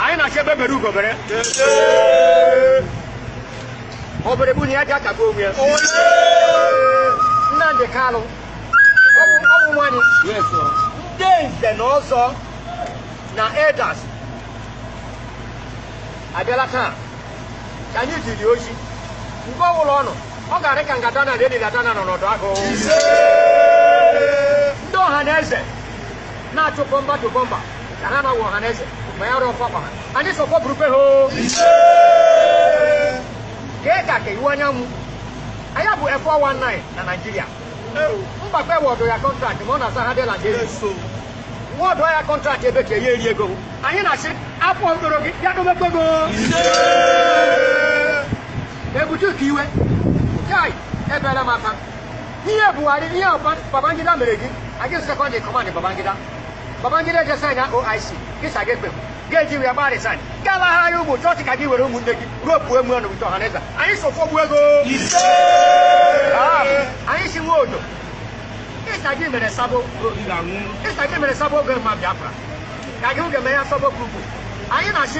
anyị na-achọ egbe bere ugo bere obere bụ na ya ji akagbu onwe ya nnamdi kalụ ụmụ nwanyị ndị nze na ọzọ na elders abịala taa ka anyị jiri ọjị mgbe ọbụla ọ nọ ọ ga-arị ka mgbada na edinadana nọ n'ọdụ agụ ndị ọha na eze na-achụ bumper to bumper ka ha na-awụ ọha na eze ma ya rụọ fọkwa ha anyị sọkwa burukwe ha o kee ka ka iwuanyanwu anyị bụ 419 na Naịjirịa mgbakpe award ya contract ma ọ na-asa ha dịla jeri award ya contract ebe ka ya eri ego anyị na-asị afọ mkpụrụ gị bịa domekwe go ebitu ukiwe kai ebere m aka ihe buhari ihe a Ba- babangida mere gị ọ gị second in command babangida babangida je sign ya oic gị sị gị ekpe ga-eji wee gbaa resign gbalaghara ya ụmụ chọọchị ka gị were ụmụnne gị ruo pụọ emu ọnụ wite ọhaneze anyị so fọgbu ego Ah, anyị si nwe odo ịsa gị mere sabo ịsa gị mere sabo oge ma biafra ka gị oge mee ya sabo grupu anyị na-asị